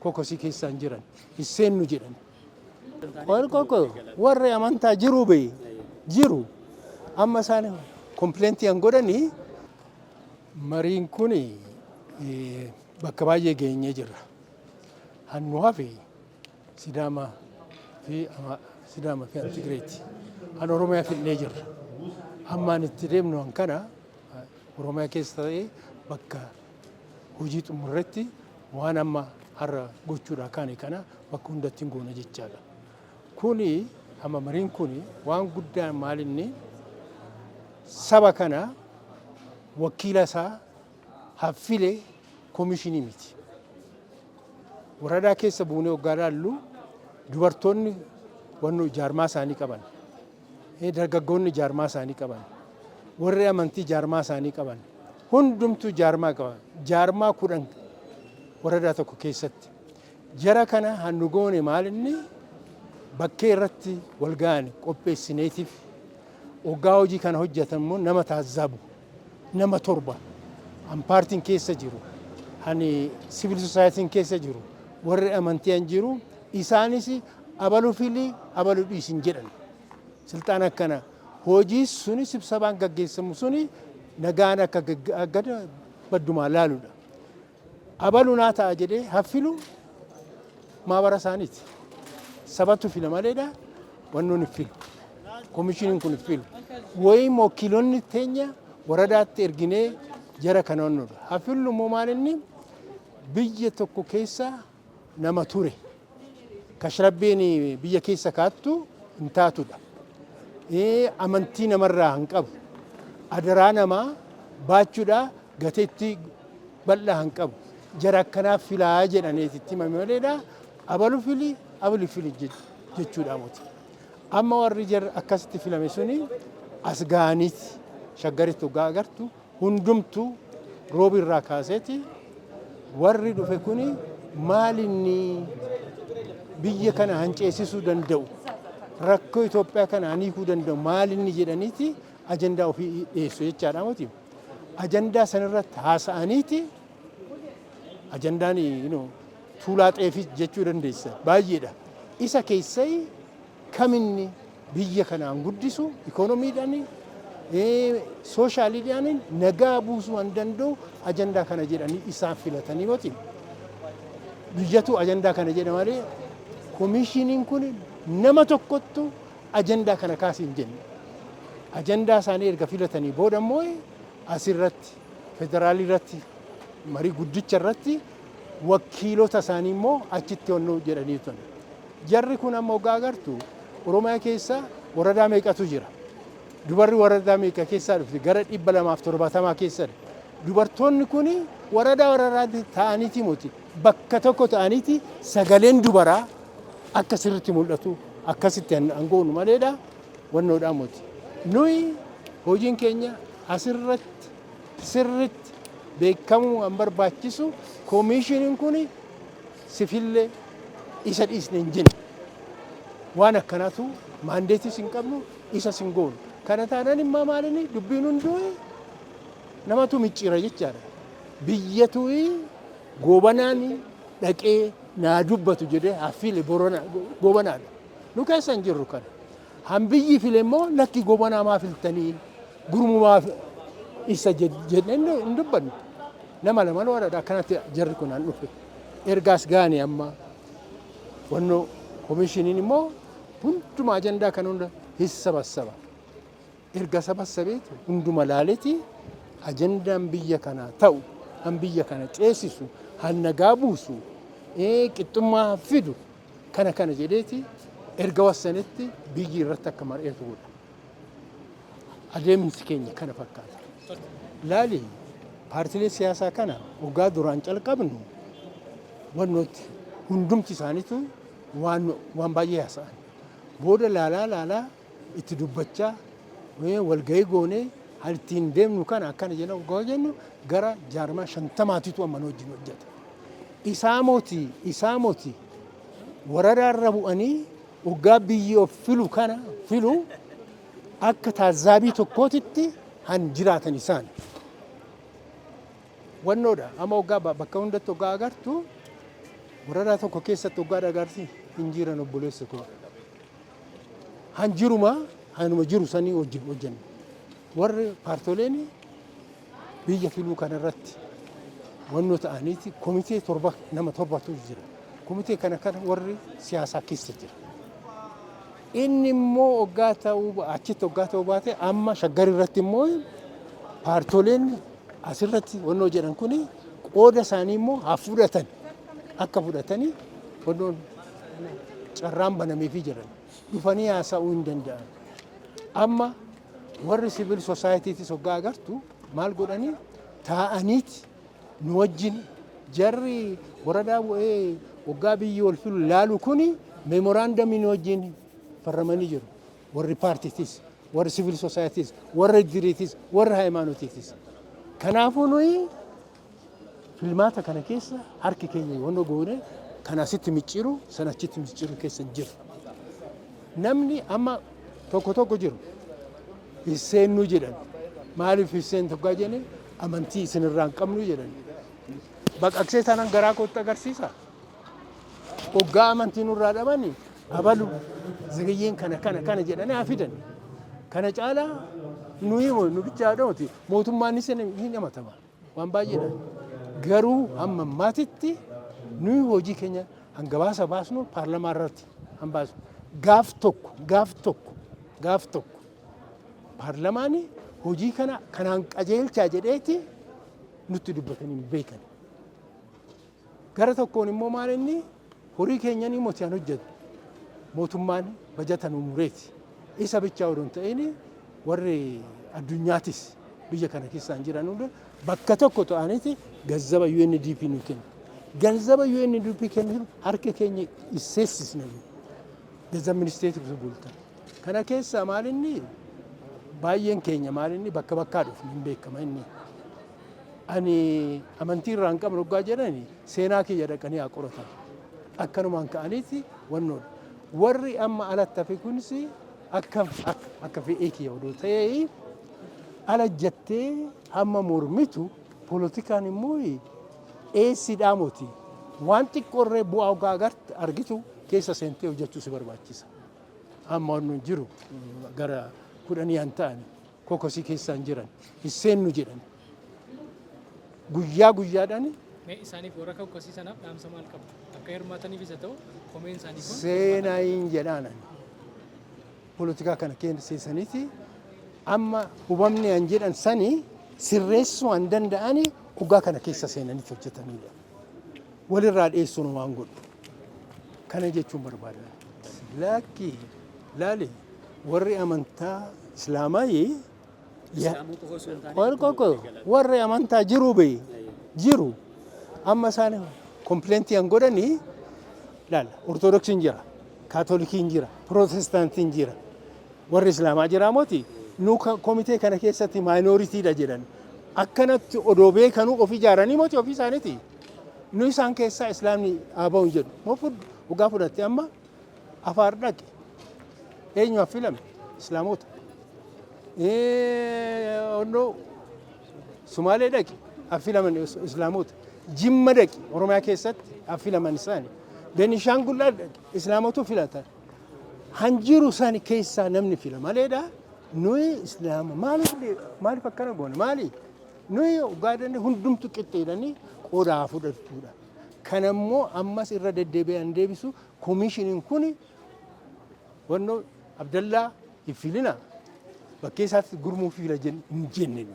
kokosii keessaa hin jiran hin seennu jedhan. Warri koko warri amantaa jiru bee jiru amma isaan kompilentii kan godhani mariin kun bakka baay'ee geenyee jirra. Hannu hafe Sidaama fi Sidaama fi Tigireeti. An Oromiyaa fidnee jirra. Hammaan itti deemnu kana Oromiyaa keessa ta'ee bakka hojii xumurretti waan amma har'a gochuudhaa kaane kana bakka hundatti hin goona jechaadha. Kuni amma mariin kuni waan guddaa maalinni saba kana wakiila isaa haffile komishinii miti. Waradaa keessa buunee hoggaa laallu dubartoonni wanno jaarmaa isaanii qaban Dargaggoonni jaarmaa isaanii qaban, warri amantii jaarmaa isaanii qaban, hundumtuu jaarmaa qaban. Jaarmaa kudhan waradaa tokko keessatti. Jara kana hannu goone maal inni bakkee irratti wal ga'an qopheessineetiif oggaa hojii kana hojjetan immoo nama taazzabu nama torba an paartiin keessa jiru ani siviil sosaayitiin keessa jiru warri amantii an jiru isaanis Abalu fili abalu dhiisi hin jedhan. Silxaan akkana hojii suni sibsabaan gaggeessamu suni nagaan akka gaggeessa baddumaa laaludha. Abalu naa ta'a jedhee haffilu maabara isaaniiti. Sabatu fila maleedha wannoon iffilu. Komishiniin kun iffilu. Wayii mokkilonni teenya waradaatti erginee jara kana wannoodha. Haffilu immoo maalinni biyya tokko keessaa nama ture kash rabbiin biyya keessa kaattu hin taatudha amantii namarraa hin qabu adaraa namaa baachudha gateetti bal'aa hin qabu jara akkanaaf filaa jedhaneeti itti himame maleedha abalu fili abali fili jechuudha moti amma warri jara akkasitti filame suni as ga'aniiti shaggaritti hoggaa agartu hundumtu Roobi irraa kaaseeti warri dhufe kuni maal inni biyya kana hanceessisuu danda'u rakkoo Itoophiyaa kana haniikuu danda'u maal inni jedhaniiti ajandaa ofii dhiyeessu jechaadha miti. Ajandaa sanirratti haasa'aniiti ajandaan tuulaa xeefii jechuu dandeessa baay'eedha. Isa keessai kam inni biyya kanaan guddisu ikoonomiidhaani, sooshaaliidhaani nagaa buusuu an danda'u ajandaa kana jedhanii isaan filatanii yoo ta'e biyyatu ajandaa kana jedha malee komiishiniin kun nama tokkottu ajandaa kana kaasi hin jenne. Ajandaa isaanii erga filatanii booda immoo asirratti federaalii irratti marii guddicha irratti wakkiilota isaanii immoo achitti onnu jedhanii turan. Jarri kun amma hoggaa agartu Oromiyaa keessa waradaa meeqatu jira. Dubarri waradaa meeqa keessaa dhufte gara dhibba lamaaf torbaatamaa keessa dubartoonni kun waradaa waradaatti ta'aniiti muti bakka tokko ta'aniiti sagaleen dubaraa akka sirritti mul'atu akkasitti hangoonu maleedha wannoodhaa muti. Nuyi hojiin keenya asirratti sirriitti beekamuu kan barbaachisu komiishiniin kun sifillee isa dhiisne hin jennu. Waan akkanaatu maandeetiis hin qabnu isas hin goonu. Kana taanaan immoo maalini dubbiin hunduu namatu micciira jechaadha. Biyyatu goobanaan dhaqee naa dubbatu jedhee haffiile goobanaadha. Nu keessa hin jirru kana. Han biyyi file immoo lakki gobanaa maa filtanii gurmumaa isa jedhee hin dubbanne. Nama lama loodha akkanatti jarri kun an dhufe. Ergaas gaane amma wannoo komishiniin immoo hunduma ajandaa kan hunda hin sabassaba. Erga sabassabeeti hunduma laaleti ajandaan biyya kanaa ta'u han biyya kana ceesisu han nagaa buusu qixxummaa fidu Kana kana jedheeti erga wassanitti biyyi irratti akka mar'eetu godha. Adeemsi keenya kana fakkaata. Laali paartilee siyaasaa kana ogaa duraan calqabnu wannootti hundumti isaaniitu waan baay'ee haasa'an. Booda laalaa laalaa itti dubbachaa eh, walgahii goonee hal ittiin deemnu kana akkana jenna goo jennu gara jaarmaa shantamaatitu amma nu wajjin hojjeta. Isaa moti isaa moti waradaarra bu'anii waggaa biyyi of filu kana filu akka taazzaabii tokkootitti han jiraatan isaan. Wannoodha amma waggaa ba- bakka hundatti waggaa agartu waradaa tokko keessatti waggaa dhagarti hin jiran obboleessa koo. han jiruma hanuma jiru sanii wajjin hojjenna. Warri paartoleen biyya filuu kanarratti wannoo ta'aniiti komitee torba nama torbatu jira. Komitee kana kana warri siyaasaa keessa jira. Inni immoo oggaa ta'uu ba- achitti oggaa ta'uu baate amma shaggar irratti immoo paartoleen asirratti wannoo jedhan kuni qooda isaanii immoo haa fudhatan akka fudhatanii wannoon carraan banameefii jiran dhufanii haasa'uu hin danda'an. Amma warri siviil sosaayiitiitis hoggaa agartu maal godhanii taa'aniiti nu wajjin jarri waradaa bu'ee hoggaa biyyi wal filu laalu kuni meemoraandamii nu wajjin farramanii jiru. Warri paartiitis, warri siviil sosaayiitiis, warri iddiriitis, warri haayimaanotiitis. Kanaafuu nuyi Filmaata kana keessa harki keenya yoona goone kana asitti micciiru sana achitti micciiru keessa hin jiru. Namni amma tokko tokko jiru hin seennu jedhan. Maaliif hin seentu gaa jenne amantii isinirraa hin qabnu jedhan. Baqaqsee tanan garaa kootti agarsiisa. Hoggaa amantii nurraa dhabani abalu ziriyyeen kana kana kana jedhanii haa fidan. Kana caalaa nuyi nu bichaa dhawati mootummaan isin hin amatama. waan baay'eedha. Garuu hamma ammaatitti nuyi hojii keenya hangabaasa baasnu paarlamaa irratti han baasu. Gaaf tokko gaaf tokko gaaf tokko paarlamaan hojii kana kanaan qajeelchaa jedheeti nutti dubbatanii hin beekan. Gara tokkoon immoo maal inni horii keenyanii moti an hojjetu mootummaan bajata nu mureeti. Isa bichaa odoo hin ta'in warri addunyaatis biyya kana keessaan jiran hunda bakka tokko ta'aniti gazzaba UNDP nu kennu. Ganzaba UNDP kennu harka keenya isseessisna. Gazzab ministeeti bultan. Kana keessaa maal inni baay'een keenya maal inni bakka bakkaa dhufne hin beekama inni. Ani amantii irraa hin qabne oggaa jedhani seenaa kiyya dhaqanii haa qoratan. Akkanumaan ka'aniiti wannoo dha. Warri amma alatti hafe kunis akka akka fedhii kiyya odoo ta'ee ala jettee amma mormitu polotikaan immoo eessidhaa moti waan xiqqoo irree bu'aa ogaa agarte argitu keessa seentee hojjechuu si barbaachisa. Amma wannoon jiru gara kudhanii an ta'ani. kokosii keessa hin jiran hin seennu jedhan guyyaa guyyaadhaan Mee isaaniif warra kakkasii sanaaf dhaamsa maal qabu? Akka hirmaataniif isa ta'u komeen isaanii kun seenaa hin jedhaanan polotikaa kana keessa seensaniiti amma hubamne an jedhan sani sirreessuu an danda'ani dhugaa kana keessa seenaniiti hojjetanidha. walirraa dheessuun homaa hin godhu. Kana jechuun barbaada. Laakki laali warri amantaa Islaamaayii Islaamuu qofa osoo hin taane Wal tokko qoqqo waliigalaa. warri amantaa jiru be jiru amma isaan kompilentii an godhani laala ortodoksiin jira Kaatolikiin jira, Pirootestaantiin jira, warri Islaamaa jiraa moti nu komitee kana keessatti maayinooritiidha jedhan akkanatti odoo beekanuu of ijaaranii moti ofii isaaniiti. Nu isaan keessaa Islaamni haa ba'u jedhu. Moo fudhu dhugaa fudhatte amma afaar dhaqe eenyu affilame Islaamota. Onnoo Sumaalee dhaqi affilaman islaamoota. Jimma dhaqi Oromiyaa keessatti affilaman isaani. Benishaangul dhaqi islaamootu filata. Hanjiru isaani keessaa namni fila maleedha. Nuyi islaama maaliif maaliif akkana goone maali? Nuyi ogaadan hundumtu qixxeedhani qoodaa fudhachuudha. Kanammoo ammas irra deddeebi'an deebisu komishiniin kuni Wanno Abdallaa hin fiilina bakkee isaatti gurmuu fiila hin jenne.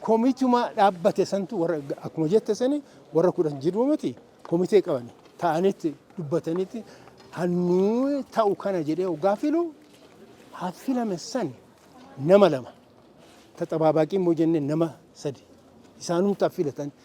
Komituma dhaabbate santu warra akkuma jette sani warra kudhan jiru miti komitee qaban ta'anitti dubbatanitti hannuu ta'u kana jedhee hoggaa filu haa filame san nama lama taxabaabaaqiin moo jenne nama sadi isaanumtaa filatan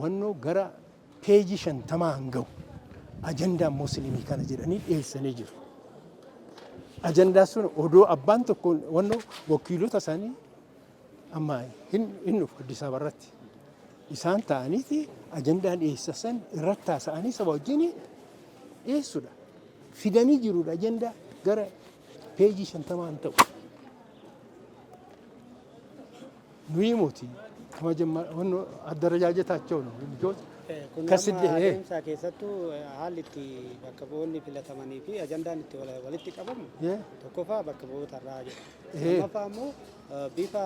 Wannoo gara peejii shantamaa kan gahu ajandaa Musliimii kana jedhanii dhiyeessanii jiru. Ajandaa sun odoo abbaan tokko wannoo wakiilota isaanii amma hin hin dhufu Addis Ababa irratti isaan ta'aniiti ajandaa dhiyeessa san irratti haasa'anii saba wajjin dhiyeessudha. Fidanii jirudha ajandaa gara peejii shantamaa hin ta'u. Nuyi moti addarajaajetaachoo nu mijoos kasidde hee. Adeemsaa keessattuu haalli itti bakka bu'oonni filatamanii fi ajandaan itti walitti qabamu tokkoffaa bakka bu'oota irraa jira. Lammaffaa immoo bifa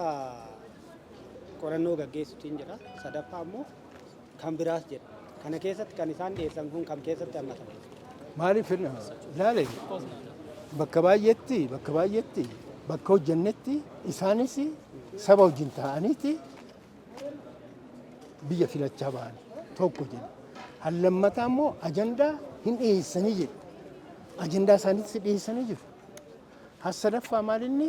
qorannoo gaggeessuutiin jira. Sadaffaa immoo kan biraas jedha. Kana keessatti kan isaan dhiyeessan kun kam keessatti hammatama? Maaliif ilaale bakka baay'eetti bakka baay'eetti bakka hojjennetti isaanis saba wajjin ta'aniiti biyya filachaa ba'an tokko jedhu. Hallammataa immoo ajandaa hin dhiyeessanii jedhu. Ajandaa isaaniitti dhiyeessanii jiru. Hassadaffaa maalinni